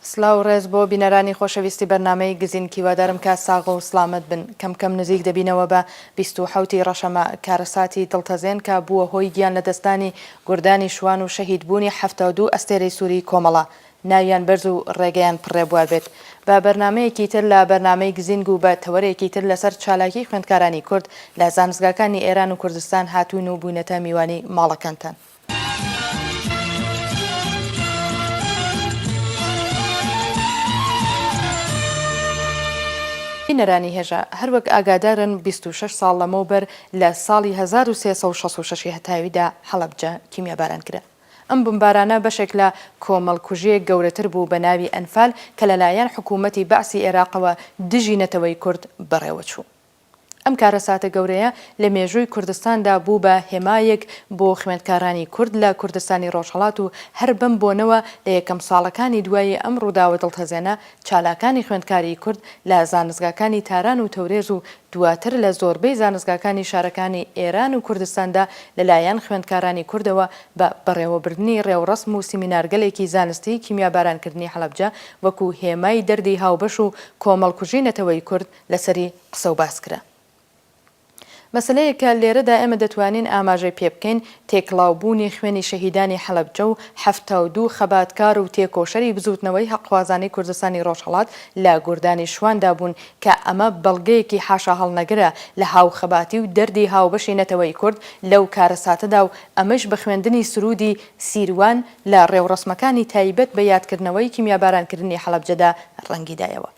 سلاو و ڕێز بۆ بینەرانی خۆشەویستی بەرنامەی گزین کیوادارم کە ساغ و سڵامەت بن کەم کەم نزیک دەبینەوە بە بیست و حەوت ی ڕەشەمە کارەساتی دڵتەزێن کە بووە هۆی گیان لەدەستدانی گوردانی شوان و شەهید بوونی حەفتا و دوو ئەستێرەی سوری کۆمەڵە ناویان بەرز و ڕێگەیان پڕ ڕێبوار بێت بە بەرنامەیەکی تر لە بەرنامەی گزینگ و بە تەوەرێکی تر لەسەر چالاکی خوێندکارانی کورد لە زانستگاکانی ئێران و کوردستان هاتوون و بوینەتە میوانی ماڵەکانتان. بینەرانی هێژا هەر وەک ئاگادارن بیست و شەش ساڵ لەمەوبەر لە ساڵی هەزار و سێ سەد و شەست و شەش ی هەتاویدا حەڵەبجە کیمیاباران کرا. ئەم بمبارانە بەشێک لە کۆمەڵکوژییەک گەورەتر بوو بە ناوی ئەنفال کە لەلایەن حکوومەتی بەعسی ئێراقەوە دژی نەتەوەی کورد بەڕێوە چوو. ئەم کارەساتە گەورەیە لە مێژووی کوردستاندا بوو بە هێمایەک بۆ خوێندکارانی کورد لە کوردستانی ڕۆژهەڵات و هەر بەم بۆنەوە لە یەکەم ساڵەکانی دوایی ئەم ڕووداوە دڵتەزێنە چالاکانی خوێندکاری کورد لە زانستگاکانی تاران و تەورێز و دواتر لە زۆربەی زانستگاکانی شارەکانی ئێران و کوردستاندا لەلایەن خوێندکارانی کوردەوە بە بەڕێوەبردنی ڕێوڕەسم و سیمینارگەلێکی زانستی کیمیابارانکردنی هەڵەبجە وەکو هێمای دەردی هاوبەش و کۆمەڵکوژی نەتەوەی کورد لەسەری قسە و باس کرا. مەسەلەیەک کە لێرەدا ئێمە دەتوانین ئاماژەی پێ بکەین، تێکڵاو بوونی خوێنی شەهیدانی حەلەبجە و حەفتا و دوو خەباتکار و تێکۆشەری بزووتنەوەی هەقخوازانەی کوردستانی ڕۆژهەڵات لە گوردانی شواندا بوون کە ئەمە بەڵگەیەکی حاشاهەڵنەگرە لە هاوخەباتی و دەردی هاوبەشی نەتەوەی کورد لەو کارەساتەدا و ئەمەیش بە خوێندنی سروودی سیروان لە ڕێوڕەسمەکانی تایبەت بە یادکردنەوەی کیمیابارانکردنی حەلەبجەدا ڕەنگی دایەوە.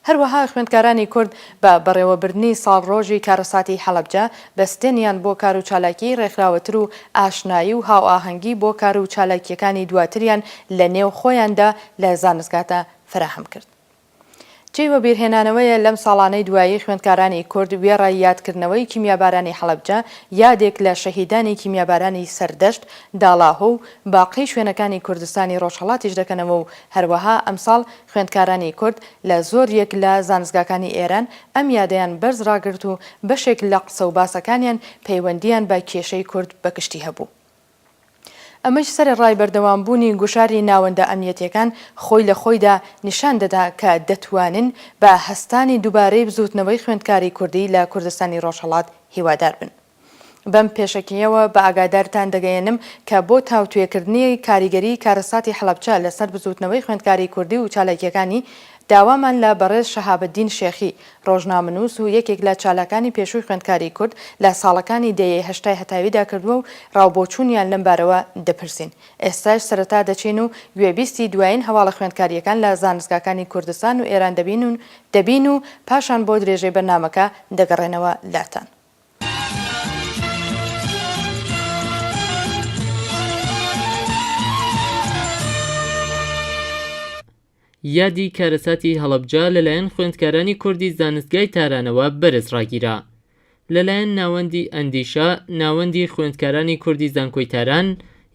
هەروەها خوێندکارانی کورد بە بەڕێوەبردنی ساڵڕۆژی کارەساتی حەڵەبجە، بەستێنیان بۆ کار و چالاکیی ڕێکخراوەتر و ئاشنایی و هاوئاهەنگی بۆ کار و چالاکییەکانی دواتریان لە نێو خۆیاندا لە زانستگادا فەراهەم کرد. جێی وەبیرهێنانەوەیە لەم ساڵانەی دوایی خوێندکارانی کورد وێڕای یادکردنەوەی کیمیابارانی حەڵەبجە، یادێک لە شەهیدانی کیمیابارانی سەردەشت، داڵاهۆ و باقی شوێنەکانی کوردستانی ڕۆژهەڵاتیش دەکەنەوە و هەروەها ئەمساڵ خوێندکارانی کورد لە زۆر یەک لە زانستگاکانی ئێران ئەم یادەیان بەرز ڕاگرت و بەشێک لە قسە و باسەکانیان پەیوەندییان بە کێشەی کورد بە گشتی هەبوو. ئەمەیش سەرەڕای بەردەوام بوونی گوشاری ناوەندە ئەمنیەتییەکان خۆی لە خۆیدا نیشان دەدا کە دەتوانن بە هەستانی دووبارەی بزووتنەوەی خوێندکاری کوردی لە کوردستانی ڕۆژهەڵات هیوادار بن. بەم پێشەکییەوە بە ئاگادارتان دەگەیەنم کە بۆ تاوتوێکردنی کاریگەریی کارەساتی حەڵەبچە لەسەر بزووتنەوەی خوێندکاری کوردی و چالاکییەکانی، داوامان لە بەڕێز شەهابەدین شێخی، ڕۆژنامەنووس و یەکێک لە چالاکانی پێشووی خوێندکاری کورد لە ساڵەکانی دەیەی هەشتای هەتاویدا کردووە و ڕاوبۆچوونیان لەم بارەوە دەپرسین. ئێستاش سەرەتا دەچین و گوێبیستی دوایین هەواڵە خوێندکارییەکان لە زانستگاکانی کوردستان و ئێران دەبین و پاشان بۆ درێژەی بەرنامەکە دەگەڕێنەوە لاتان. یادی کارەساتی هەڵەبجە لەلایەن خوێندکارانی کوردی زانستگای تارانەوە بەرز ڕاگیرا لەلایەن ناوەندی ئەندیشە ناوەندی خوێندکارانی کوردی زانکۆی تاران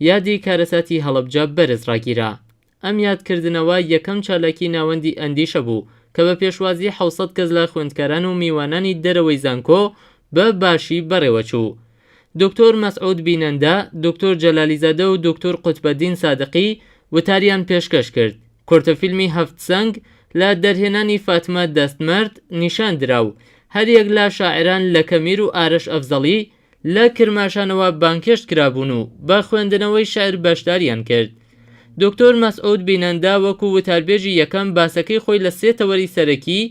یادی کارەساتی هەڵەبجە بەرز ڕاگیرا ئەم یادکردنەوە یەکەم چالاکی ناوەندی ئەندیشە بوو کە بە پێشوازی حەوت سەد کەس لە خوێندکاران و میوانانی دەرەوەی زانکۆ بە باشی بەڕێوە چوو. دکتۆر مەسعود بینەندە، دکتۆر جەلالیزادە و دکتۆر قوتبەدین سادقی وتاریان پێشکەش کرد. کورتە فیلمی هەفت سەنگ لە دەرهێنانی فاتمە دەستمەرد نیشان درا و هەریەک لە شاعران لەکە میر و ئارەش ئەفزەڵی، لە کرماشانەوە بانگهێشت کرابوون و بە خوێندنەوەی شعر بەشداریان کرد. دوکتور مەسعود بینەندا وەکوو وتاربێژی یەکەم باسەکەی خۆی لە سێ تەوەری سەرەکی،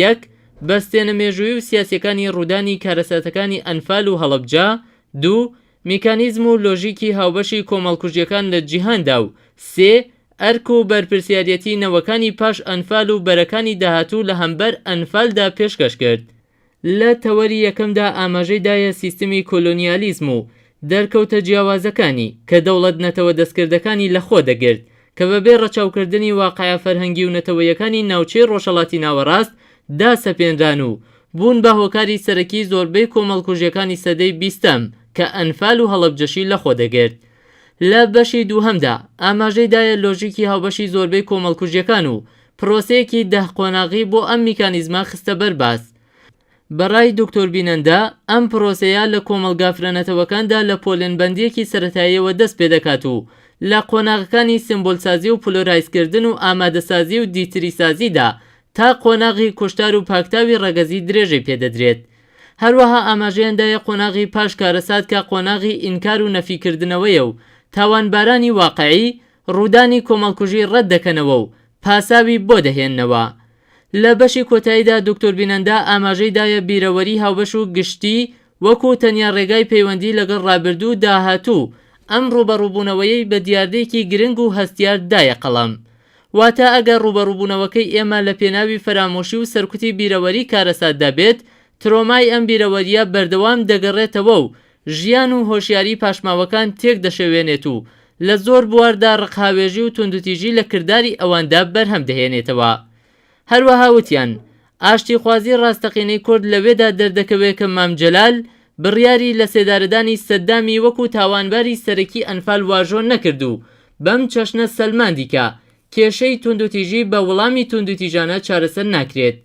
یەک، بەستێنە مێژوویی و سیاسییەکانی ڕوودانی کارەساتەکانی ئەنفال و هەڵەبجە، دوو، میکانیزم و لۆژیکی هاوبەشی کۆمەڵکوژییەکان لە جیهاندا و سێ، ئەرک و بەرپرسیاریەتی نەوەکانی پاش ئەنفال و بەرەکانی داهاتوو لە هەمبەر ئەنفالدا پێشکەش کرد. لە تەوەری یەکەمدا ئاماژەی دایە سیستمی کۆلۆنیالیزم و دەرکەوتە جیاوازەکانی کە دەوڵەت-نەتەوە دەستکردەکانی لەخۆ دەگرت کە بەبێ ڕەچاوکردنی واقعە فەرهەنگی و نەتەوەیەکانی ناوچەی ڕۆژهەڵاتی ناوەڕاست دا سەپێنران و بوون بە هۆکاری سەرەکی زۆربەی کۆمەڵکوژیەکانی سەدەی بیستەم کە ئەنفال و هەڵەبجەشی لەخۆ دەگرت. لە بەشی دووهەمدا ئاماژەی دایە لۆژیکی هاوبەشی زۆربەی کۆمەڵکوژیەکان و پرۆسەیەکی دەه قۆناغی بۆ ئەم میکانیزمە خستە بەر باس. بە رای دکتۆر بینەندە، ئەم پرۆسەیە لە کۆمەڵگا فرەنەتەوەکاندا لە پۆلێنبەندییەکی سەرەتاییەوە دەست پێ دەکات و لە قۆناغەکانی سێمبۆلسازی و پلۆرایزکردن و ئامادەسازی و دیتریسازیدا تا قۆناغی کوشتار و پاکتاوی رەگەزی درێژەی پێ دەدرێت. هەروەها ئاماژەیان دایە قۆناغی پاش کارەسات کە قۆناغی ئینکار و نەفیکردنەوەیە و تاوانبارانی واقعی ڕوودانی کۆمەڵکوژی ڕەت دەکەنەوە و پاساوی بۆ دەهێننەوە. لە بەشی کۆتاییدا دوکتور بینەندا ئاماژەی دایە بیرەوەری هاوبەش و گشتی وەکوو تەنیا ڕێگای پەیوەندی لەگەڵ ڕابردوو و داهاتوو و ئەم ڕووبەڕووبوونەوەیەی بە دیاردەیەکی گرنگ و هەستیار دایە قەڵەم. واتە ئەگەر ڕووبەڕووبوونەوەکەی ئێمە لە پێناوی فەرامۆشی و سەرکوتی بیرەوەری کارەساتدا بێت، ترۆمای ئەم بیرەوەرییە بەردەوام دەگەڕێتەوە و ژیان و هۆشیاریی پاشماوەکان تێک دەشێوێنێت و لە زۆر بواردا ڕقهاوێژی و توندوتیژی لە کرداری ئەواندا بەرهەم دەهێنێتەوە. هەروەها وتیان، ئاشتیخوازی ڕاستەقینەی کورد لەوێدا دەردەکەوێ کە مام جەلال بڕیاری لەسێدارەدانی سەددامی وەکوو تاوانباری سەرەکی ئەنفال واژۆ نەکرد و بەم چەشنە سەلماندی کە کێشەی توندوتیژی بە وڵامی توندوتیژانە چارەسەر ناکرێت.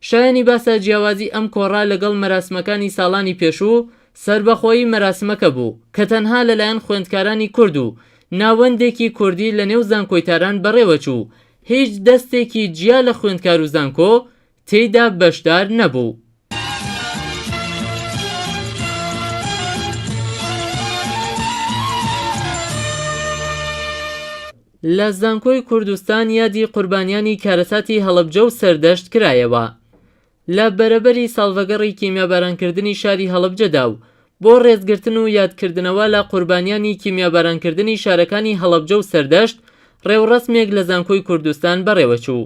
شایانی باسە جیاوازی ئەم کۆڕە لەگەڵ مەراسمەکانی ساڵانی پێشوو، سەربەخۆیی مەراسمەکە بوو کە تەنها لەلایەن خوێندکارانی کورد و ناوەندێکی کوردی لەنێو زانکۆی تاران بەڕێوەچوو، هیچ دەستێکی جیا لە خوێندکار و زانکۆ تێیدا بەشدار نەبوو. لە زانکۆی کوردستان یادی قوربانیانی کارەساتی هەڵەبجە و سەردەشت کرایەوە لە بەرەبەری ساڵڤەگەڕی کیمیابارانکردنی شاری هەڵەبجەدا و بۆ ڕێزگرتن و یادکردنەوە لە قوربانیانی کیمیابارانکردنی شارەکانی هەڵەبجە و سەردەشت ڕێوڕەسمێک لە زانکۆی کوردستان بەڕێوەچوو.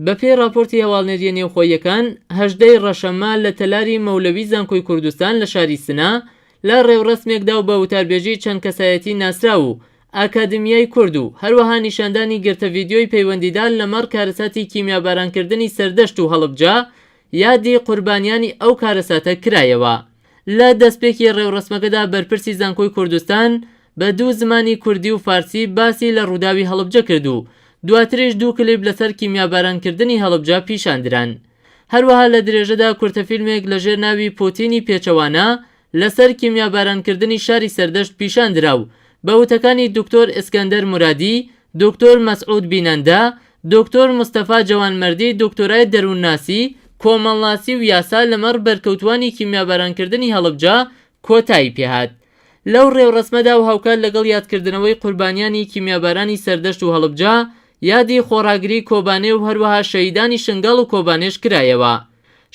بەپێی ڕاپۆرتی هەواڵنێرییە نێوخۆییەکان، هەژدە ی ڕەشەممە لە تەلاری مەولەوی زانکۆی کوردستان لە شاری سنە لە ڕێوڕەسمێکدا و بە وتاربێژیی چەند کەسایەتیی ناسراو و ئاکادمیای کورد و هەروەها نیشاندانی گرتە ڤیدیۆی پەیوەندیدار لەمەڕ کارەساتی کیمیابارانکردنی سەردەشت و هەڵبجە یادی قوربانیانی ئەو کارەساتە کرایەوە. لە دەستپێکی ڕێوڕەسمەکەدا بەرپرسی زانکۆی کوردستان بە دوو زمانی کوردی و فارسی باسی لە ڕووداوی هەڵبجە کرد و دواتریش دوو کلیپ لەسەر کیمیابارانکردنی هەڵبجە پیشاندران. هەروەها لە درێژەدا کورتە فیلمێک لەژێر ناوی پۆتینی پێچەوانە لەسەر کیمیابارانکردنی شاری سەردەشت پیشاندرا و بە وتەکانی دکتۆر ئێسکەندەر مورادی، دکتۆر مەسعود بینەندە، دکتۆر مستەفا جەوانمەردی دکتۆرای دەروونناسی، کۆمەڵناسی و یاسا لەمەڕ بەرکەوتووانی کیمیابارانکردنی هەڵەبجە کۆتایی پێهات لەو ڕێوڕەسمەدا و هاوکات لەگەڵ یادکردنەوەی قوربانیانی کیمیابارانی سەردەشت و هەڵبجە یادی خۆڕاگری کۆبانێ و هەروەها شەهیدانی شنگاڵ و کۆبانێش کرایەوە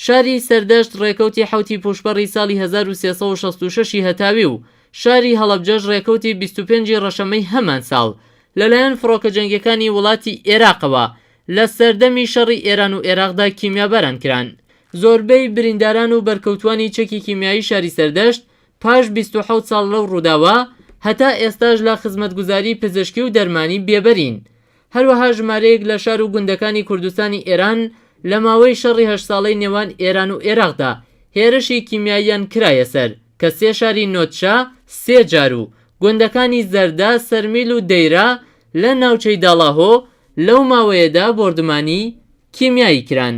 شاری سەردەشت ڕێکەوتی حەوتی پووشپەڕی ساڵی هەزار و سێ سەد و شەست و شەش ی هەتاوی و شاری هەڵەبجەش ڕێکەوتی بیست و پێنج ی ڕەشەمەی هەمان ساڵ لەلایەن فڕۆکە جەنگیەکانی وڵاتی ئێراقەوە لە سەردەمی شەڕی ئێران و ئێراقدا کیمیاباران کران. زۆربەی برینداران و بەرکەوتوانی چەکی کیمیایی شاری سەردەشت پاش بیست و حەوت ساڵ لەو ڕووداوە هەتا ئێستاش لە خزمەتگوزاری پزیشکی و دەرمانی بێبەرین. هەروەها ژمارەیەک لە شار و گوندەکانی کوردستانی ئێران لە ماوەی شەڕی هەشت ساڵەی نێوان ئێران و ئێراقدا هێرشی کیمیاییان کرایە سەر. کە سێ شاری نۆدشە سێ جار و گوندەکانی زەردە، سەرمیل و دەیرە لە ناوچەی داڵاهۆ لەو ماوەیەدا بۆردومانی کیمیایی کران.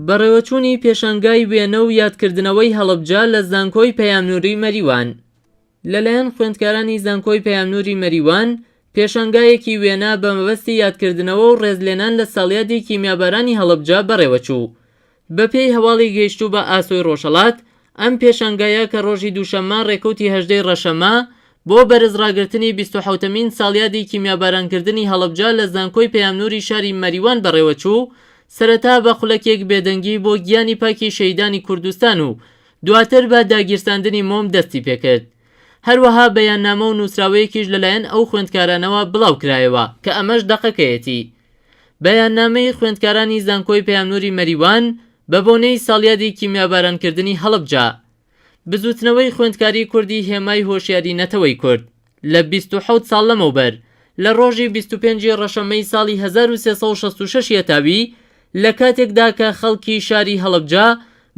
بەڕێوەچوونی پێشانگای وێنە و یادکردنەوەی هەڵەبجە لە زانکۆی پەیامنووری مەریوان. لەلایەن خوێندکارانی زانکۆی پەیامنوری مەریوان پێشانگایەکی وێنا بە مەبەستی یادکردنەوە و ڕێزلێنان لە ساڵیادی کیمیابارانی هەڵەبجە بەڕێوەچوو بە پێی هەواڵی گەیشتوو بە ئاسۆی ڕۆژهەڵات ئەم پێشانگایە کە ڕۆژی دووشەممە ڕێکەوتی هەژدەی ڕەشەمە بۆ بەرز ڕاگرتنی بیست و حەوتەمین ساڵیادی کیمیاباران کردنی هەڵەبجە لە زانکۆی پەیامنوری شاری مەریوان بەڕێوەچوو سەرەتا بە خولەکێک بێدەنگی بۆ گیانی پاکی شەهیدانی کوردستان و دواتر بە داگیرساندنی مۆم دەستی پێکرد. هەروەها بەیاننامە و نووسراوەیەکیش لەلایەن ئەو خوێندکارانەوە بڵاو کرایەوە کە ئەمەش دەقەکەیەتی. بەیاننامەی خوێندکارانی زانکۆی پەیامنووری مەریوان بە بۆنەی ساڵیادی کیمیابارانکردنی هەڵەبجە. بزووتنەوەی خوێندکاری کوردی هێمای هۆشیاری نەتەوەی کورد. لە بیست و حەوت ساڵ لەمەوبەر، لە ڕۆژی بیست و پێنج ی ڕەشەممەی ساڵی هەزار و سێ سەد و شەست و شەش یەتاوی، لە کاتێکدا کە خەڵکی شاری هەڵەبجە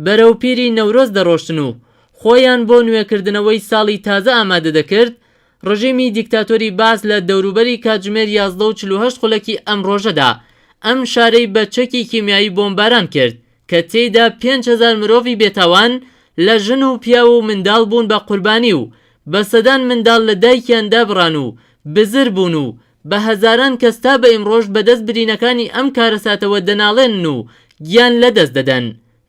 بەرەو پیری نەورۆز دەڕۆشتن و خۆیان بۆ نوێکردنەوەی ساڵی تازە ئامادە دەکرد، ڕژیمی دیکتاتۆری بەعس لە دەوروبەری کاتژمێر یازدە و چل و هەشت خولەکی ئەم ڕۆژەدا ئەم شارەی بە چەکی کیمیایی بۆمباران کرد کە تێیدا پێنج هەزار مرۆڤی بێتاوان لە ژن و پیاو و منداڵ بوون بە قوربانی و بە سەدان منداڵ لە دایکیان دابڕان و بزر بوون و بە هەزاران کەس تا بە ئیمڕۆش بە دەست برینەکانی ئەم کارەساتەوە دەناڵێنن و گیان لە دەست دەدەن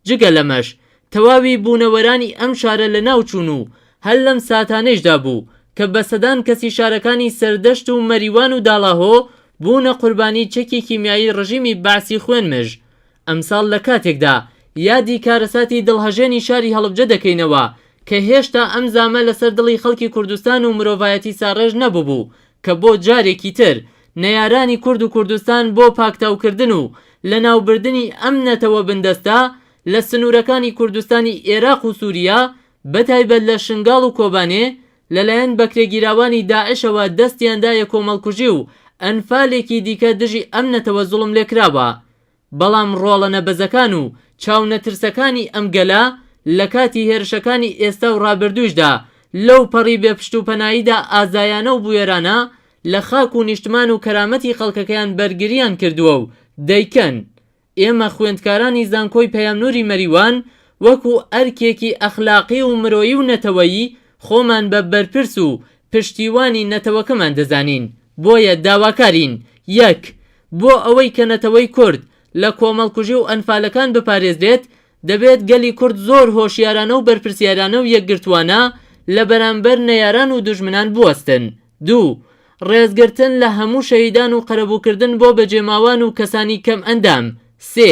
جگە لەمەش تەواوی بوونەوەرانی ئەم شارە لە ناو چوون و هەر لەم ساتانەیشدا بوو کە بە سەدان کەسی شارەکانی سەردەشت و مەریوان و داڵاهۆ بوونە قوربانی چەکی کیمیایی ڕژیمی بەعسی خوێن مژ ئەمساڵ لە کاتێکدا یادی کارەساتی دڵهەژێنی شاری هەڵبجە دەکەینەوە کە هێشتا ئەم زامە لەسەر دڵی خەڵکی کوردستان و مرۆڤایەتی ساڕێژ نەببوو کە بۆ جارێکی تر نەیارانی کورد و کوردستان بۆ پاکتاوکردن و لەناوبردنی ئەم نەتەوە بندەستە لە سنوورەکانی کوردستانی ئێراق و سووریا بەتایبەت لە شنگاڵ و کۆبانێ لەلایەن بەکرێگیراوانی داعشەوە دەستیان دایە کۆمەڵکوژی و ئەنفالێکی دیکە دژی ئەم نەتەوە زوڵملێکراوە بەڵام ڕۆڵە نەبەزەکان و چاو نەترسەکانی ئەم گەلە لە کاتی هێرشەکانی ئێستا و ڕابردووشدا لەو پەڕی بێ پشت و پەناییدا ئازایانە و بوێرانە لە خاک و نیشتمان و کەرامەتی خەڵکەکەیان بەرگرییان کردووە و دەیکەن. ئێمە خوێندکارانی زانکۆی پەیام نووری مەریوان وەکوو ئەرکێکی ئەخلاقی و مرۆیی و نەتەوەیی خۆمان بە بەرپرس و پشتیوانی نەتەوەکەمان دەزانین، بۆیە داواکارین، یەک. بۆ ئەوەی کە نەتەوەی کورد لە کۆمەڵکوژی و ئەنفالەکان بپارێزرێت، دەبێت گەلی کورد زۆر هۆشیارانە و بەرپرسیارانە و یەکگرتووانە لە بەرامبەر نەیاران و دوژمنان بوەستن. دوو. ڕێزگرتن لە هەموو شەهیدان و قەرەبووکردن بۆ بەجێماوان و کەسانی کەمئەندام. سێ.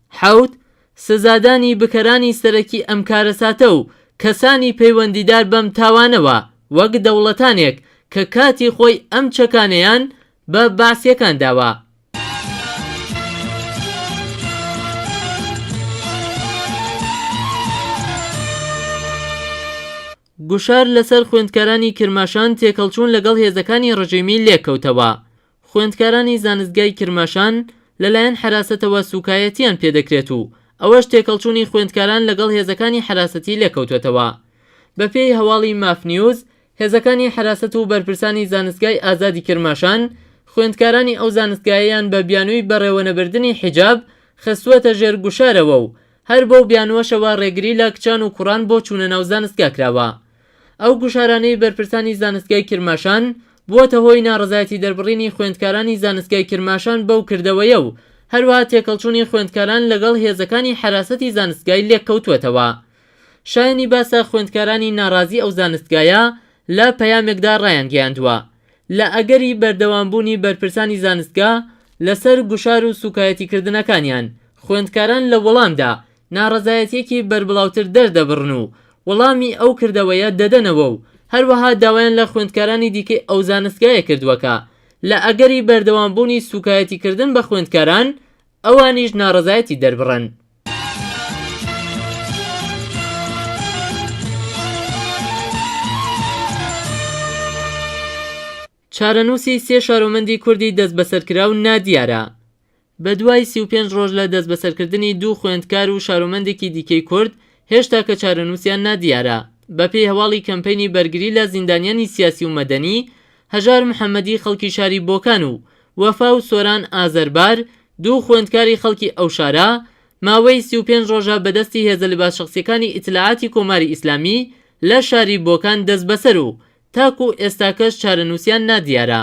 حەوت، سزادانی بکەرانی سەرەکی ئەم کارەساتە و کەسانی پەیوەندیدار بەم تاوانەوە وەک دەوڵەتانێک کە کاتی خۆی ئەم چەکانەیان بە بەعسیەکان داوە. گوشار لەسەر خوێندکارانی کرماشان تێکەڵچوون لەگەڵ هێزەکانی ڕژیمی لێکەوتەوە. خوێندکارانی زانستگای کرماشان لەلایەن حەراسەتەوە سووکایەتییان پێ دەکرێت و ئەوەش تێکەڵچوونی خوێندکاران لەگەڵ هێزەکانی حەراسەتی لێکەوتووەتەوە. بەپێی هەواڵی ماف نیوز، هێزەکانی حەراسەت و بەرپرسانی زانستگای ئازادی کرماشان، خوێندکارانی ئەو زانستگایەیان بە بیانووی بەڕێوەنەبردنی حیجاب خستووەتە ژێر گوشارەوە و هەر بەو بیانووەشەوە ڕێگری لە کچان و کوڕان بۆ چوونە ناو زانستگا کراوە. ئەو گوشارانەی بەرپرسانی زانستگای کرماشان، بووەتە هۆی ناڕەزایەتی دەربڕینی خوێندکارانی زانستگای کرماشان بەو کردەوەیە و هەروەها تێکەڵچوونی خوێندکاران لەگەڵ هێزەکانی حەراسەتی زانستگای لێککەوتووەتەوە. شایەنی باسە خوێندکارانی ناڕازی ئەو زانستگایە لە پەیامێکدا ڕایانگەیاندووە، لە ئەگەری بەردەوامبوونی بەرپرسانی زانستگا لەسەر گوشار و سووکایەتیکردنەکانیان، خوێندکاران لە وەڵامدا ناڕەزایەتیەکی بەربڵاوتر دەردەبڕن و وەڵامی ئەو کردەوەیە دەدەنەوە و هەروەها داوایان لە خوێندکارانی دیکەی ئەو زانستگایە کردووە کە لە ئەگەری بەردەوامبوونی سووکایەتیکردن بە خوێندکاران ئەوانیش ناڕەزایەتی دەربڕن. چارەنووسی سێ شارۆمەندی کوردی دەستبەسەرکراو نادیارە. بەدوای سی و پێنج ڕۆژ لە دەستبەسەرکردنی دوو خوێندکار و شارۆمەندێکی دیکەی کورد، هێشتاکە چارەنووسیان نادیارە. بەپێی هەواڵی کەمپەینی بەرگری لە زیندانیانی سیاسی و مەدەنی، هەژار محەممەدی خەڵکی شاری بۆکان و وەفا و سۆران ئازەربار، دوو خوێندکاری خەڵکی ئەو شارە، ماوەی سی و پێنج ڕۆژە بەدەستی هێزە لباسشخصیەکانی ئیتلاعاتی کۆماری ئیسلامی لە شاری بۆکان دەستبەسەر و تاکوو ئێستاکەش چارەنووسیان نادیارە.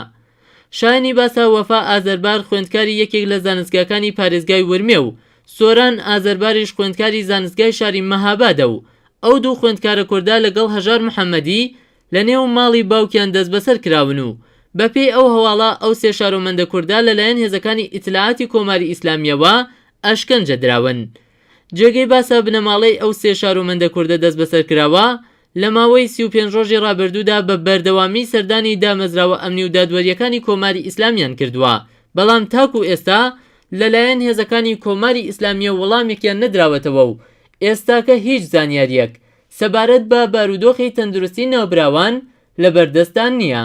شایەنی باسە وەفا ئازەربار خوێندکاری یەکێک لە زانستگاکانی پارێزگای ورمێ و سۆران ئازەرباریش خوێندکاری زانستگای شاری مەهابادە و ئەو دوو خوێندکارە کوردە لەگەڵ هەژار محەمەدی لە نێو ماڵی باوکیان دەستبەسەر کراون و بەپێی ئەو هەواڵە ئەو سێ شارۆمەندە کوردە لەلایەن هێزەکانی ئیتلاعاتی کۆماری ئیسلامییەوە ئەشکەنجە دراون. جێگەی باسە بنەماڵەی ئەو سێ شارۆمەندە کوردە دەستبەسەرکراوە لە ماوەی سی و پێنج ڕۆژی ڕابردوودا بە بەردەوامی سەردانی دامەزراوە ئەمنی و دادوەرییەکانی کۆماری ئیسلامیان کردووە، بەڵام تاکوو ئێستا لەلایەن هێزەکانی کۆماری ئیسلامییەوە وەڵامێکیان نەدراوەتەوە و ئێستاکە هیچ زانیارییەک سەبارەت بە بارودۆخی تەندروستی ناوبراوان لە بەردەستدا نییە.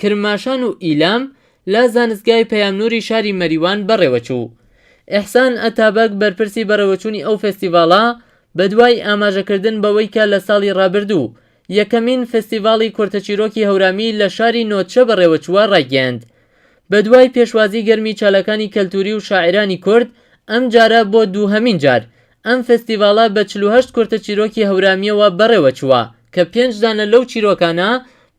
کرماشان و ئیلام لە زانستگای پەیامنوری شاری مەریوان بەڕێوەچوو. ئیحسان ئەتابەگ بەرپرسی بەڕێوەچوونی ئەو فێستیڤاڵە بەدوای ئاماژەکردن بەوەی کە لە ساڵی ڕابردوو یەکەمین فستیڤاڵی کورتەچیرۆکی هەورامی لە شاری نۆدشە بەڕێوەچووە ڕایگەیاند بەدوای پێشوازی گەرمی چالاکانی کەلتوری و شاعیرانی کورد ئەمجارە بۆ دووهەمین جار ئەم فێستیڤاڵە بە چل و هەشت کورتە چیرۆکی هەورامییەوە بەڕێوەچووە کە پێنج دانە لەو چیرۆکانە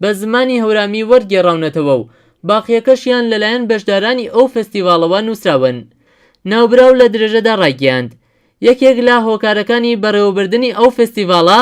بە زمانی هەورامی وەرگێڕاونەتەوە و باقییەکەشیان لەلایەن بەشدارانی ئەو فێستیڤاڵەوە نووسراون. ناوبراو لە درێژەدا ڕایگەیاند، یەکێک لە هۆکارەکانی بەڕێوەبردنی ئەو فێستیڤاڵە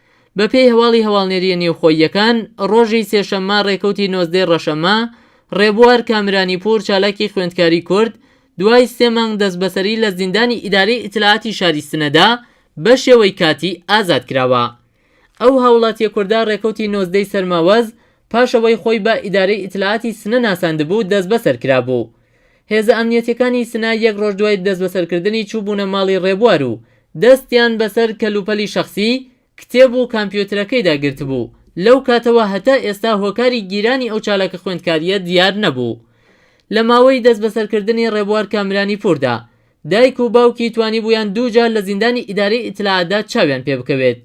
بەپێی هەواڵی هەواڵنێرییە نێوخۆییەکان، ڕۆژی سێشەممە ڕێکەوتی نۆزدەی ڕەشەممە، ڕێبوار کامرانیپوور چالاکی خوێندکاری کورد، دوای سێ مانگ دەستبەسەری لە زیندانی ئیدارەی ئیتلاعاتی شاری سنەدا بەشێوەی کاتی ئازاد کراوە. ئەو هاوڵاتییە کوردە ڕێکەوتی نۆزدەی سەرماوەز پاش ئەوەی خۆی بە ئیدارەی ئیتلاعاتی سنە ناساندبوو دەستبەسەر کرابوو. هێزە ئەمنیەتیەکانی سنە یەک ڕۆژ دوای دەستبەسەرکردنی چووبوونە ماڵی ڕێبوار و دەستیان بەسەر کەلوپەلی شەخسی، کتێب و کامپیۆترەکەیدا گرتبوو، لەو کاتەوە هەتا ئێستا هۆکاری گیرانی ئەو چالاکە خوێندکاریە دیار نەبوو. لە ماوەی دەستبەسەرکردنی ڕێبوار کامرانی پووردا، دایک و باوکی توانیبوویان دوو جار لە زیندانی ئیدارەی ئیتلاعاتدا چاویان پێبکەوێت.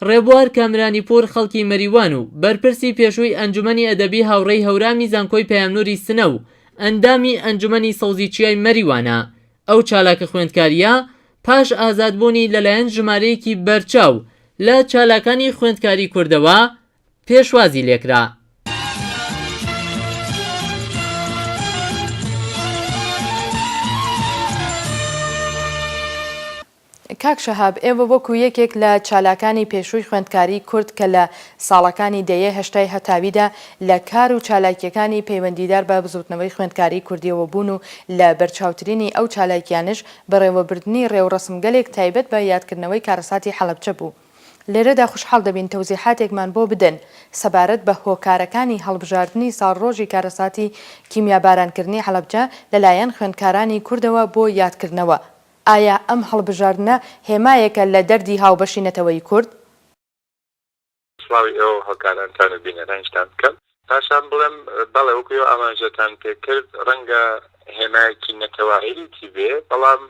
ڕێبوار کامرانیپوور خەڵکی مەریوان و بەرپرسی پێشووی ئەنجومەنی ئەدەبی هاوڕێی هەورامی زانکۆی پەیامنووری سنە و ئەندامی ئەنجومەنی سەوزی چیای مەریوانە، ئەو چالاکە خوێندکارییە پاش ئازادبوونی لەلایەن ژمارەیەکی بەرچاو لە چالاکانی خوێندکاری کوردەوە پێشوازی لێکرا. کاک شەهاب ئێوە وەکو یەکێک لە چالاکانی پێشووی خوێندکاری کورد کە لە ساڵەکانی دەیەی هەشتای هەتاویدا لە کار و چالاکییەکانی پەیوەندیدار بە بزووتنەوەی خوێندکاری کوردییەوە بوون و لە بەرچاوترینی ئەو چالاکییانەش بەڕێوەبردنی ڕێوڕەسمگەلێک تایبەت بە یادکردنەوەی کارەساتی حەڵەبجە بوو لێرەدا خوشحاڵ دەبین تەوزیحاتێکمان بۆ بدەن سەبارەت بە هۆکارەکانی هەڵبژاردنی ساڵڕۆژی کارەساتی کیمیابارانکردنی حەڵەبجە لەلایەن خوێندکارانی کوردەوە بۆ یادکردنەوە، ئایا ئەم هەڵبژاردنە هێمایەکە لە دەردی هاوبەشی نەتەوەی کورد؟ سڵاوی ئێوە و هاوکارانتان و بینەرانیشتان بکەم. پاشان بڵێم بەڵێ وەکو ئێوە ئاماژەتان پێکرد ڕەنگە هێمایەکی نەتەوایەیتی بێ بەڵام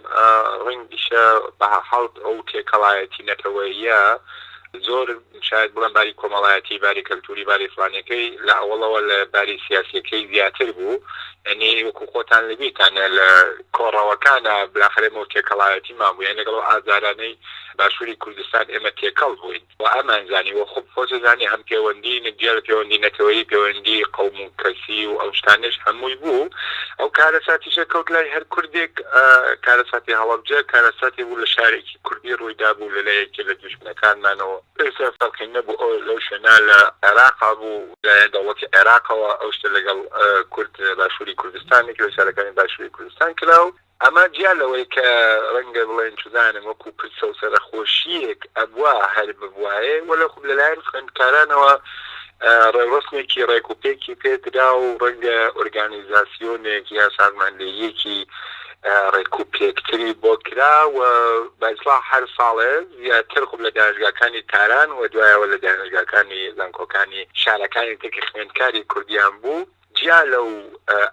ڕەنگیشە بەهەرحاڵ ئەو تێکەڵایەتی نەتەوەییە زۆر شاید بڵێم باری کۆمەڵایەتی باری کەلتوری باری فلانیەکەی لە ئەوڵەوە لە باری سیاسەکەی زیاتر بوو ئەنی وەکو خۆتان لەبیتانە لە کۆڕەوەکانە بلاخرێمە و تێکەڵایەتی مابووە لەگەڵ ئازارانەی باشووری کوردستان ئێمە تێکەڵ بووین وە ئەمان زانی وە خوب خۆت ئەزانی هەم پێوەندی مدیەل پێوەندی نەتەوەیی پێوەندی قەوم و کەسی و ئەو شتانەش هەمووی بوو ئەو کارەساتیشە کەوت لای هەر کوردێک کارەساتی هەڵەبجە کارەساتی بوو لە شارێکی کوردی ڕووی دابوو لە لای یەکێ لە دوژمنەکانمانەوە ئێستا فەرقی نەبوو ئەو لەو شوێنە لە عێراقا بوو لایەن دەوڵەتی عێراقەوە ئەو شتە لەگەڵ کورد باشووری کوردستان نەکرا سارەکانی باشووری کوردستان کرا و ئەمە جیا لەوەی کە ڕەنگە بڵێن چدانم وەکو پرسە و سەرەخۆشییەک ئەبوا هەر ببوایێ، وەلێ خۆ لەلایەن خوێندکارانەوە ڕێوڕەسمێکی ڕێکوپێکی پێ درا و ڕەنگە ئۆرگانیزاسیۆنێک یا سازماندهییەکی ڕێکوپێکتری بۆ کرا و بە ئیسڵاح هەر ساڵێ زیاتر خۆ لە دانشگاکانی تاران و دوایەوە لە دانشگاکانی زانکۆکانی شارەکانی تر کە خوێندکاری کوردیان بوو، جیا لەو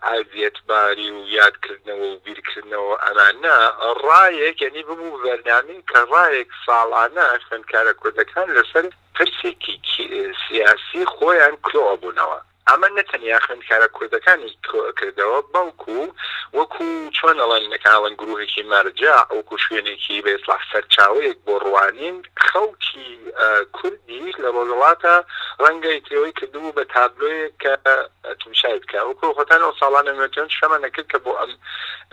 ئەزیەت باری و یاد کردنەوە و بیر کردنەوە ئەمانە ڕایەک یەنی ببوو بە بەرنامەی کە ڕایەک ساڵانە خوێندکارە کوردەکان لەسەر پرسێکی سیاسی خۆیان کرۆ ئەبوونەوە ئەمە نە تەنیا خوێندکارە کوردەکانی کرۆ ئەکردەوە بەڵکوو وەکوو چۆن ئەڵێن نەکەن ئەڵێن گرووهێکی مەرجەع وەکوو شوێنێکی بە ئیسڵاح سەرچاوەیەک بۆ ڕوانین خەڵکی کوردیش لە ڕۆژەڵاتە ڕەنگە ئیترەوەی کردبوو بە تابلۆیەک کە تمشای بکا وەکۆ خۆتان ئەو ساڵانە نۆتێن شەمە نەکرد کە بۆ ئەم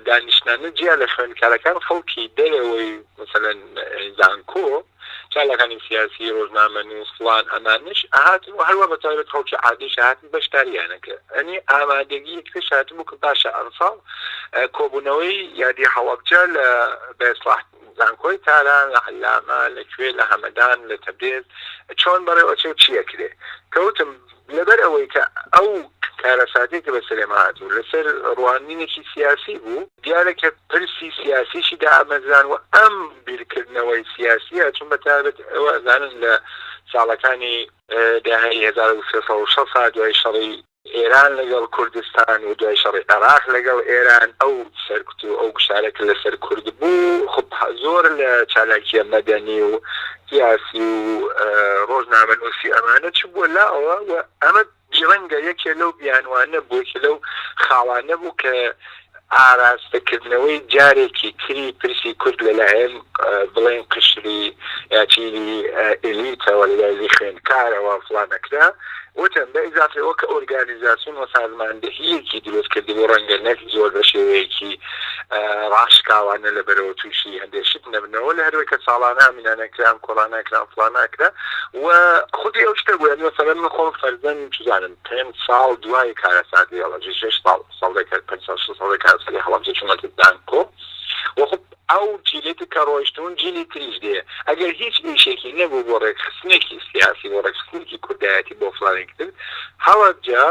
دانیشتنانە جیا لە خوێندکارەکان خەڵکی دەرەوەی مەسەلەن زانکۆ چالاکانی سیاسی ڕۆژنامە نووس فڵان ئەمانش ئەهاتن و هەروە بە تایبەت خەڵکی عادیش هاتن بەشداریانەکە ئەنی ئامادەگی یەکتریش هاتبوو کە باشە ئەمساڵ کۆبوونەوەی یادی هەڵەبجە لە بێسڵاح زانکۆی تاران لە عەلامە لە کوێ لە هەمەدان لە تەبرێز چۆن بەڕێ ئەچێ و چی ئەکرێ کەوتم لەبەر ئەوەی کە ئەو کارەساتەی کە بەسەرێما هاتبوو لەسەر ڕوانینێکی سیاسی بوو دیارە کە پرسی سیاسیشی دامەزران و ئەم بیرکردنەوەی سیاسیە چون بەتایبەت ئێوە ئەزانن لە ساڵەکانی دەیەی هەزار و سێ سەد و شەست دوای شەڕی ئێران لەگەڵ کوردستان و دوای شەڕی عێراق لەگەڵ ئێران ئەو سەرکوت و ئەو گوشارە کە لەسەر کورد بوو خب زۆر لە چالاکیە مەدەنی و سیاسی و ڕۆژنامەنووسی ئەمانە چ بووە لاوە و ئەمە بیرەنگە یەکێ لەو بیانوانە بوو یەکێ لەو خاڵانە بوو کە ئاراستەکردنەوەی جارێکی تری پرسی کورد لەلایەن بڵێین قشری یا چینی ئێلیتەوە، لە لایەنی خوێندکارەوە فڵان نەکرا، وتم بە ئیزافەی ئەوە کە ئۆرگانیزاسیۆن و سازماندەهییەکی دروست کردبوو، ڕەنگە نەک زۆر بە شێوەیەکی ڕاشکاوانە لە بەرەوە تووشی هەندێ شت نەبنەوە، لە هەروەی کە ساڵانە ئەمینە نەکران، کۆڵا نەکران، فڵان نەکرا و خودی ئەو شتە بوو، یانی مەسەلەن من خۆم فەرزەن چ زانم پێنج ساڵ دوای کارەساتی ئەڵەجی، شەش ساڵ، سەدەکە پەنجا شەست سەدەی کارەساتی هەڵەبجە چوونە تر زانکۆ و خۆ ئەو جیلەی تر کە ڕۆیشتوون جیلی تریش دێ ئەگەر هیچ ئیشێکی نەبوو بۆ ڕێکخستنێکی سیاسی بۆ ڕێکخستنێکی کوردایەتی بۆ فلانێکی تر هەڵەبجە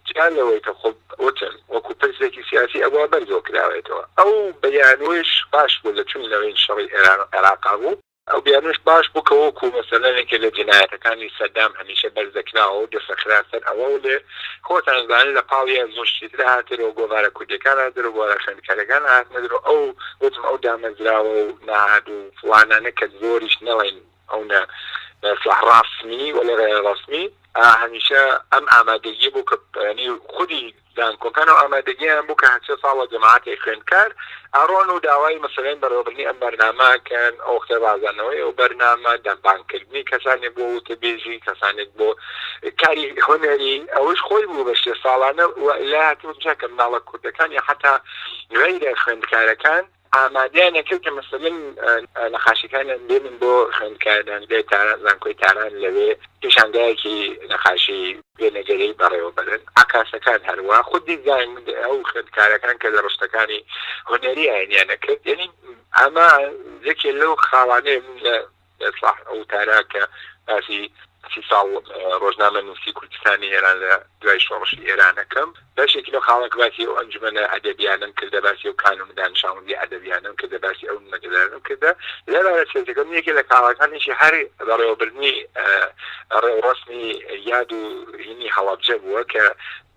جیا لەوەی کە خۆ وتم وەکوو پرسێکی سیاسی ئەبووە بەرزەوە کراوەیەتەوە ئەو بیانوویش باش بوو لە چوونی لەوەی شەڕی ئێران و عێراق بوو ئەو بیانووش باش بوو کە وەکوو مەسەلەن یەکێ لە جنایەتەکانی سەدام هەمیشە بەرز دەکراوە و دەسەخرا سەر ئەوە و لێ خۆتان زانن لە پاڵیا زۆر شتی تر هاتە درۆ، گۆڤارە کوردییەکان هاتە درۆ، گۆڤارە خوێندکارییەکان هاتنە درۆ، ئەو وتم ئەو دامەزراوە و مەعهەد و فڵانانە کە زۆریش نەڵێین ئەو نە سڵاح ڕاسمی و لە غەیرە ڕەسمی هەمیشە ئەم ئامادەگییە بوو کە یانی خودی زانکۆکان و ئامادەگییان بوو کە هەرچە ساڵە جەماعەتێک خوێندکار ئەڕۆن و داوای مەسەلەن بەڕێوەبردنی ئەم بەرنامە ئەکەن، ئەو وەختە ڕازانەوەی ئەو بەرنامە، دەمبانگکردنی کەسانێک بۆ وتەبێژی، کەسانێک بۆ کاری هونەری، ئەوەش خۆی بوو بە شێ ساڵانە و لای هاتبوو چاکە مناڵە کوردەکان یا حەتا غەیرە خوێندکارەکان، ئامادەیان ئەکرد کە مەسەلەن نەقاشەکانیان بێنن بۆ خوێندکاران لە تاران، زانکۆی تاران لەوێ پیشانگایەکی نەقاشی وێنەگەری بەڕێوە بەرن. عەکاسەکان هەروا خود دیزاین ئەو خوێندکارەکان کە لە ڕشتەکانی هونەری ئاینیان ئەکرد یەنی ئەمە یەکێ لەو خاڵانەیە من لە. ئێساح ئەو وتارە کە باسی سی ساڵ ڕۆژنامەنووسیی کوردستانی ئێران لە دوای شۆڕشی ئێران ئەکەم، بەشێکی لەو خاڵە کە باسی ئەو ئەنجومەنە ئەدەبییانەم کردە، باسی ئەو کانون دانشاوندی ئەدەبییانەم کردە، باسی ئەو نمەدەدانەم کردە. لەبارە سێزدەکەم، یەکێ لە کاڵاکانیشی هەر بەڕێوەبردنی ڕێوڕەسمی یاد و هینی هەڵەبجە بووە کە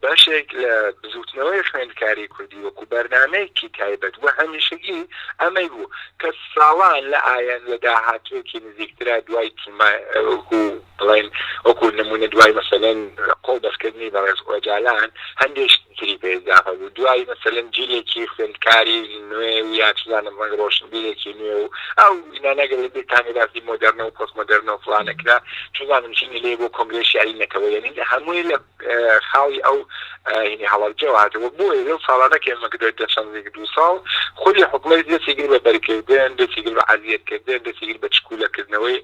بەشێک لە بزووتنەوەی خوێندکاری کوردی وەکوو بەرنامەیەکی تایبەت و هەمیشەگی ئەمەی بوو کە ساڵان لە ئایەند لە داهاتووێکی نزیکترا دوای تیما وەکوو بڵێن وەکوو نموونە دوای مەسەلەن قۆڵ بەستکردنی بەڕێز ئۆجالان هەندێ شتی تری پێ ئیزافە بوو دوای مەسەلەن جیلێکی خوێندکاری نوێ و یا چ زانم ڕەنگ ڕۆشنبیرێکی نوێ و ئەو ئینانە گەر لە بیرتانە باسی مۆدێرنە و پۆست مۆدێرنە و فڵانە کرا چ زانم چینی لێ بۆ کۆنگرەی شیعری نەتەوەیی یەعنی هەمووی لە خاڵی ئەو هینی هەڵەبجەوە هاتەوە بۆیە لەو ساڵانە کە ئێمە گرێت دە چەند زیک دوو ساڵ خودی حکومەت دەستی کرد بە بەرکردن دەستی کرد بە عەزیەت کردن دەستی کرد بە چکولەکردنەوەی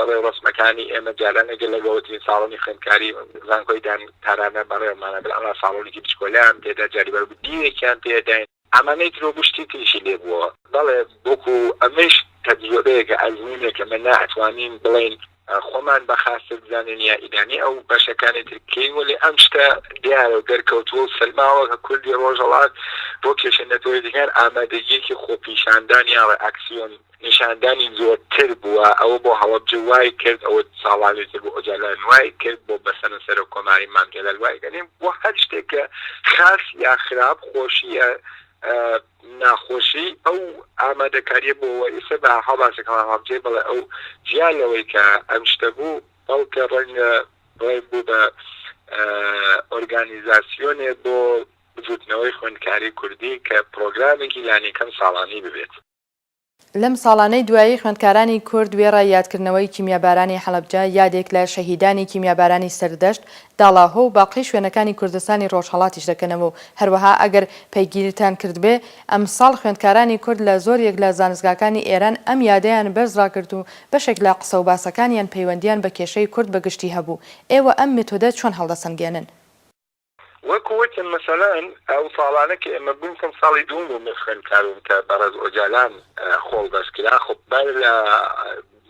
ڕێوڕەسمەکانی ئێمە جاران ئەگەر لە گەورەترین ساڵۆنی خوێندکاری زانکۆی دان تارانە بەڕێوەمانە بەرامە ساڵۆنێکی بچکۆلیان تێدا جاری بەربدیەکیان تێدا ئەمە نەیتر وەکو شتی تریشی لێ بووە. بەڵێ، وەکو ئەمەیش تەجرەبەیەکە، ئەزموونێکە، ئەمە ناتوانین بڵێین خۆمان بە خاستر بزانین یا ئیرانی ئەو بەشەکانی تر بکەین، وەلێ ئەم شتە دیارە و دەرکەوتووە و سەلماوە کە کوردی ڕۆژهەڵات بۆ کێشە نەتەوەیەتییەکان ئامادەگییەکی خۆپیشاندان یا ڕێئاکسیۆن نیشاندانی زۆرتر بووە، ئەوە بۆ هەڵەبجە وای کرد، ئەوە ساڵانی تر بۆ ئۆجالان وای کرد، بۆ بەسەنە سەرۆک کۆماری مام جەلال وای کرد، یانی بۆ هەر شتێک کە خاس یا خراپ، خۆشی یا ناخۆشی ئەو ئامادەکارییە بووە و ئیستا بە هەڵباسێک هەڵەبجەی بڵێ ئەو جیا لەوەی کە ئەم شتە بوو، بەڵکە ڕەنگە بڵێ بوو بە ئۆرگانیزاسیۆنێ بۆ بزووتنەوەی خوێندکاری کوردی کە پرۆگرامێکی لانیکەم ساڵانی ببێت. لەم ساڵانەی دوایی خوێندکارانی کورد وێڕای یادکردنەوەی کیمیابارانی حەڵەبجە، یادێک لە شەهیدانی کیمیابارانی سەردەشت، داڵاهۆ و باقی شوێنەکانی کوردستانی ڕۆژهەڵاتیش دەکەنەوە و هەروەها ئەگەر پەیگیریتان کردبێ ئەمساڵ خوێندکارانی کورد لە زۆریەک لە زانستگاکانی ئێران ئەم یادەیان بەرز ڕاگرت و بەشێک لە قسە و باسەکانیان پەیوەندیان بە کێشەی کورد بە گشتی هەبوو، ئێوە ئەم مێتۆدە چۆن هەڵدەسەنگێنن؟ وەکو وتم مەسەلەن ئەو ساڵانە کە ئێمە بووین چەند ساڵی دووم بوو من خوێندکاربووم کە بەڕێز ئۆجالان خۆڵ بەستکرا خۆ بەر لە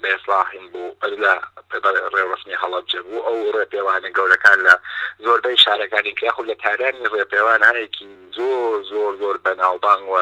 بێسڵاحیم بوو بەر لە ڕێوڕەسمی هەڵەبجە بوو ئەو ڕێپێوانە گەورەکان لە زۆربەی شارەکانی کە یاخود لە تارانی ڕێپێوان هەیەکی زۆر زۆر زۆر بەناوبانگ و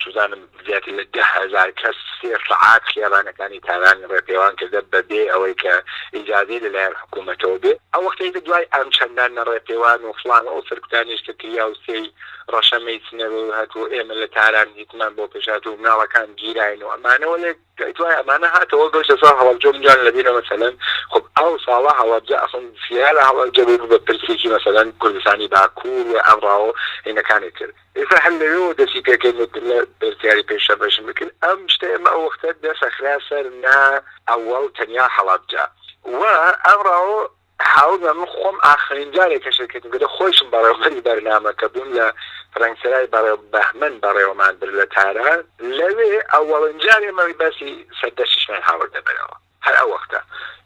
چزانم زیاتر لە دە هەزار کەس سێ سەعات خێزانەکانی تاران ڕێپێوان کردە بەبێ ئەوەی کە ئیجازەی لەلایەن حکوومەتەوە بێ ئەوە کەیتە دوای ئەم چەندان نە ڕێپێوان و فڵان و ئەو سەرکوتانیش کە کریا و سێی ڕەشە مەیسنەر و هەتوو ئێمە لە تاران هیچمان بۆ پێشات و مناڵەکان گیراین و ئەمانەوە لێ دوای ئەمانە هاتەوە گەشتە ساڵ هەڵەبجە منجان لەبیرە مەسەلەن خب ئەو ساڵە هەڵەبجە ئەخون زیارە هەڵەبجە بوو بە پرسێکی مەسەلەن کوردستانی باکوور و ئەمڕاوە هینەکانی تر ئێستا هەر لەوێوە دەسی پێکەین و لە بەرتیاری پێش شەر بەشن بکەین ئەم شتە ئێمە ئەو وەختە دەس ئەخرا سەر نا ئەوەڵ تەنیا هەڵەبجە و ئەمڕاۆ هاو بە من خۆم ئاخرین جارێک کە شەرکەتم کردە خۆیشم بەڕێوبەری بەرنامە کە بووم لە فرەنگسرای بەڕێ بەهمەن بەڕێوەمان برد لە تاران لەوێ ئەوەڵین جارێ مەوی بەسی سەردەشتیشمان هاوردە بەرەوە. هەر ئەو وەختە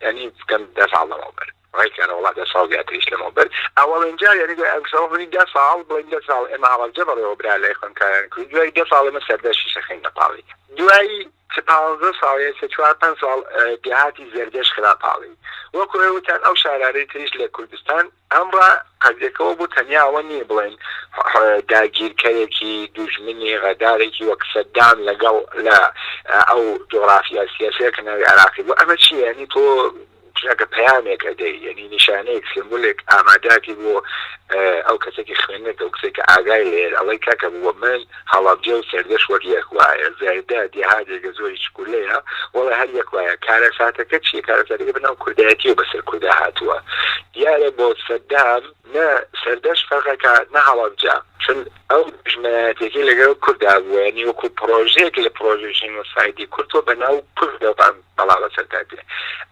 یانی بکەم دە ساڵ لەمەوبەر ڕێکەرە وڵا دە ساڵ زیاتریش لەمەوبەر ئەوەڵێن جار یانی دوای ئەمسەوە بنی دە ساڵ بڵین دە ساڵ ئێمە هەڵەبجە بەڕێوە برا لای خوێنکاران کرد دوای دە ساڵ ئێمە سەردەشی شەخین نەپاڵی دوایی پازدە ساڵ سێ چوار پێنج ساڵ دێهاتی زەردەش خراپاڵی وەکو ئێوتان ئەو شارانەی تریش لە کوردستان ئەم ڕا پەردێکەوە بوو تەنیا ئەوە نییە بڵێن داگیرکەرێکی دوژمنی غەدارێکی وەک سەدام لەگەڵ لە ئەو جوغرافیا سیاسیە کە ناوی عێراقی بوو ئەمە چییە یانی تۆ چونەکە پەیامێک ئەدەی یانی نیشانەیەک سێمبولێک ئاماداتی بۆ ئەو کەسێکی خوێنەر کە ئەو کسێک کە ئاگای لێ ئەڵێ کاکە بووە من هەڵەبجە و سەردەشت وەک یەک وایە زەردە دێهاتێکە زۆری چکولەیە وەڵا هەر یەک وایە کارەساتەکە چیە کارەساتەکە بەناو کوردایەتیەوە بەسەر کوردا هاتووە دیارە بۆ سەدام نە سەردەشت فەرقەکە نە هەڵەبجە چون ئەو دژمنایەتێکی لەگەڵ کوردا بووە یعنی وەکو پڕۆژەیەک لە پڕۆژەی ژینۆسایدی کورد تۆ بەناو کوردەوە بەڵا بەسەردا دێ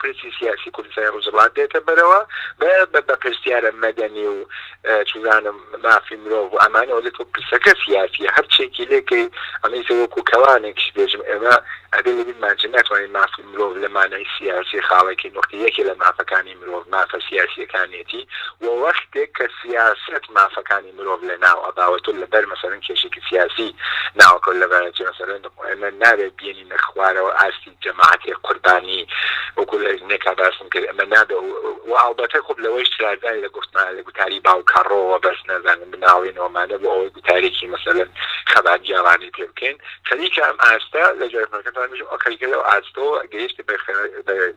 پرسی سیاسی کوردستانی ڕوژهەڵات دێتە بەرەوە بە بە بەپرسیارە مەدەنی و چزانم مافی مرۆڤ و ئەمانە وەلی تۆ پرسەکە سیاسیە هەر چێکی لێکەی ئەمە ئیتر وەکو کەوانێک شبێژم ئێمە ئەبێ لە بیرمان چێ ناتوانین مافی مرۆڤ لە مانای سیاسی خاڵێکی نوختی یەکێ لە مافەکانی مرۆڤ مافە سیاسیەکانێتی و وەختێک کە سیاسەت مافەکانی مرۆڤ لە ناو ئەبا و تۆ لە بەر مەسەلەن کێشێکی سیاسی ناوەکەو لەبارەچێ مەسەلەن ئێمە نابێ بیێنینە خوارەوە ئاستی جەماعەتی قوربانی وەکو لە نێکا باسم کرد ئەمە نابێ و ئاڵبەتە خۆب لەوەی شرازای لە گفتمان لە گوتاری باوکەڕۆوە بەس نازانم بناڵین ومانە بۆ ئەوەی گوتارێکی مەسەلەن خەبات گێڕانی پێ بکەین خەریکە ئەم ئاستە لە جارەکەتان بژم ئەو خەریکە لەو ئاستۆ گەیشت بە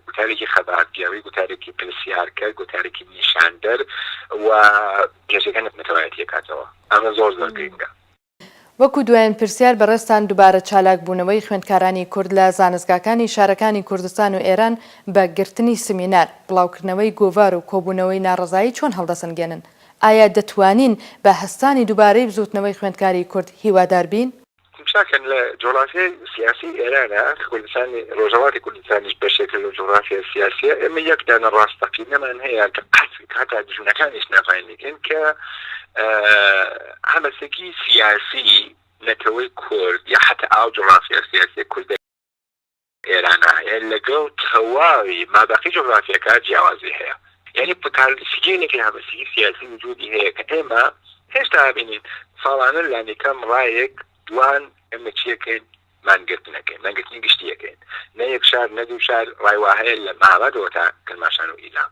گوتارێکی خەبات گێڕی گوتارێکی پرسیارکە گوتارێکی نیشاندەر و گەشەکە نەتەوایەتیەکاتەوە ئەمە زۆر زۆر گرنگە وەکو دوایین پرسیار بەڕێزتان دوبارە چالاک بوونەوەی خوێندکارانی کورد لە زانستگاکانی شارەکانی کوردستان و ئێران بە گرتنی سمینار، بڵاوکردنەوەی گۆڤار و کۆبوونەوەی ناڕەزایی چۆن هەڵدەسەنگێنن؟ ئایا دەتوانین بە هەستانی دوبارەی بزوتنەوەی خوێندکاری کورد هیوادار بین؟ تمشاکن لە جوغرافیای سیاسی ئێرانە، کوردستانی ڕۆژهەڵاتی کوردستانیش بەشێکە لە جوغرافیا سیاسیە، ئێمە یەک دانە ڕاستەقینەمان هەیە کە قەت هەتا دوژمنەکانیش ناڤاینگن کە، هەلەسەکی سیاسی نەتەوەی کورد یا حەتا ئاو جوغرافیا سیاسیە کوردە ئێرانە یە لەگەڵ تەواوی مابەقی جوغرافیاکە جیاوازی هەیە یعنی پتالسیگەلێکی هەمەسیی سیاسی وجودی هەیە کە ئێمە هێشتا بینین ساڵانە لانیکەم ڕایەک دوان ئێمە چیەکەین مانگرتنەکەین مانگرتنی گشتیەکەین نە یەک شار نە دوو شار ڕایوا هەیە لە مامەدەوە تا کرماشان و ئیلام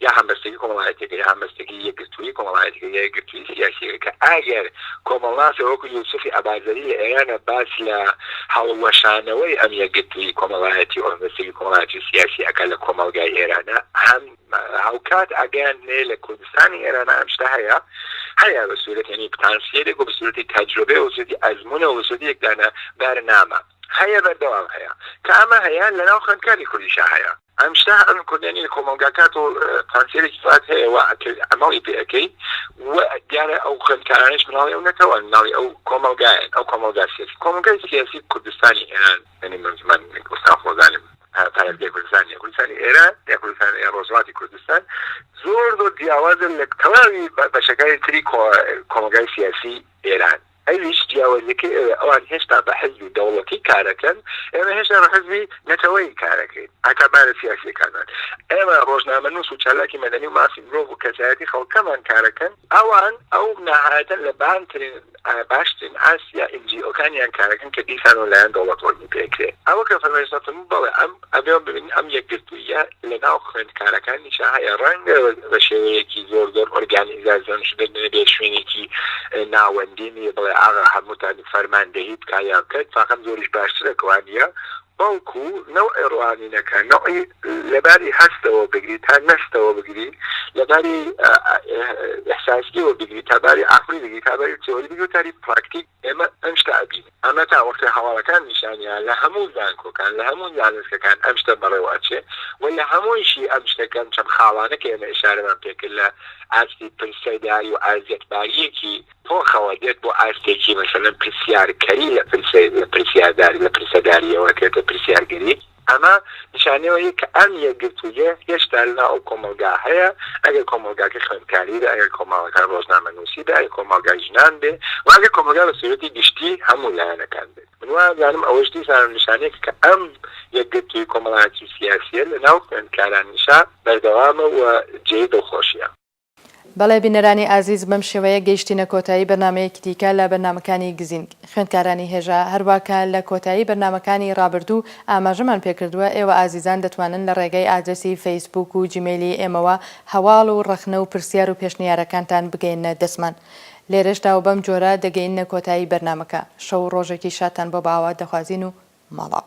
یا هەمبەستگی کۆمەڵایەتیەکە یا هەمبەستگی یەکگرتووی کۆمەڵایەتیەکە یا یەکگرتووی سیاسیەکە کە ئەگەر کۆمەڵناسێ وەکو یوسفی ئەبازەری لە ئێرانە باس لە هەڵوەشانەوەی ئەم یەکگرتووی کۆمەڵایەتی و هەمبەستگی کۆمەڵایەتی و سیاسی ئەکا لە کۆمەڵگای ئێرانە هەم هاوکات ئەگەیاندنێ لە کوردستانی ئێرانە ئەم شتە هەیە هەیە بە سوورەت یعنی پتانسیەلێک و بە سوورەتی تەجربێ و سوورەتی ئەزمونە و سوورەتی یەکدانە بەرنامە هەیە بەردەوام هەیە کە ئەمە هەیە لەناو خوێندکاری کوردیشا هەیە ئەمشتە ئەم کوردە نیە کۆمەڵگا کات و پارتیەرێکی فات هەیە وا ئەکەی عەمەڵی پێ ئەکەی و دیارە ئەو خوێندکارانەش مناڵی ئەو نەتەوەن مناڵی ئەو کۆمەڵگایەن ئەو کۆمەڵگا سیاسی کۆمەڵگای سیاسی کوردستانی ئێران یانی من من ئوستان خۆزانم پارێزگای کوردستان یا کوردستانی ئێران یا کوردستان یا ڕۆژهەڵاتی کوردستان زۆر زۆر جیاوازە لە تەواوی بەشەکانی تری کۆمەڵگای سیاسی ئێران ئەویش جیاوەزیەکەی ئەوەیە ئەوان هێشتا بە حزبی دەوڵەتی کارەکەن ئێمە هێشتا بە حزبی نەتەوەیی کارەکەین هەتا بارە سیاسیەکانمان ئێمە ڕۆژنامەنوس و چالاکی مەدەنی و مافی مرۆڤ و کەسایەتی خەڵکەمان کارەکەن ئەوان ئەو ناهایەتە لە بانترین باشترین ئاسیا ئینجیئۆکانیان کارەکەن کە دیسان و لایەن دەوڵەتەوە پێکرێ ئەوە کە فەرمایشتم بەڵێ ئەم ئەبێ ببینین ئەم یەکگرتووییە لە ناو خوێندکارەکانیشا هەیە، ڕەنگە بە شێوەیەکی زۆر زۆر ئۆرگانیزاسیۆنیش بێت، نەبێ شوێنێکی ناوەندی نی بڵێ ئاغا هەمووتان فەرماندەهی بکا یا بکەن، فاقەم زۆریش باشترە کوا نییە، بەڵکوو نەوعی ڕوانینەکە، نەوعی لەباری هەستەوە بگری تا نەستەوە بگری، لەباری ئیحساسییەوە بگری تا باری عەقڵی بگری، تا باری تیۆری بگری و تا باری پراکتیک، ئێمە ئەم شتە ئەبینین، ئەمە تا وەختێ هەواڵەکان نیشانیان لە هەموو زانکۆکان، لە هەموو زانستەکان ئەم شتە بەڕێوە ئەچێ و لە هەموویشی ئەم شتە کەم چەم خاڵانە کە ئێمە ئیشارەمان پێ کرد لە ئاستی پرسەیداری و ئازیەتباریەکی تۆخەوە دێت بۆ ئاستێکی مەسەلەن پرسیارکەری لە پرسەی لە پرسیارداری لە پرسەداریەوە ئەکرێتە پرسیارگەری. ئەمە نیشانەی ئەوەیە کە ئەم یەکگرتووییە هێشتا لەناو ئەو کۆمەڵگا هەیە، ئەگەر کۆمەڵگاکە خوێندکاری بێ، ئەگەر کۆمەڵگا ڕۆژنامەنووسی بێ، ئەگەر کۆمەڵگا ژنان بێ و ئەگەر کۆمەڵگا بە سوورەتی گشتی هەموو لایەنەکان بێت. من وازانم ئەوەش دیسان نیشانەیەکە کە ئەم یەکگرتووی کۆمەڵایەتی و سیاسییە لەناو خوێندکارانیشا بەردەوامە و جێی دڵخۆشییە. بەڵێ بینەرانی ئازیز بەم شێوەیە گەیشتینە کۆتایی بەرنامەیەکی دیکە لە بەرنامەکانی گزینگ خوێندکارانی هێژا هەروا کە لە کۆتایی بەرنامەکانی ڕابردوو ئاماژەمان پێکردووە ئێوە ئازیزان دەتوانن لە ڕێگەی ئادرەسی فەیسبووک و جیمەیلی ئێمەوە هەواڵ و ڕەخنە و پرسیار و پێشنیارەکانتان بگەیەننە دەستمان لێرەشدا و بەم جۆرە دەگەیننە کۆتایی بەرنامەکە شەو و ڕۆژێکی شادتان بۆ بەئاوات دەخوازین و ماڵاو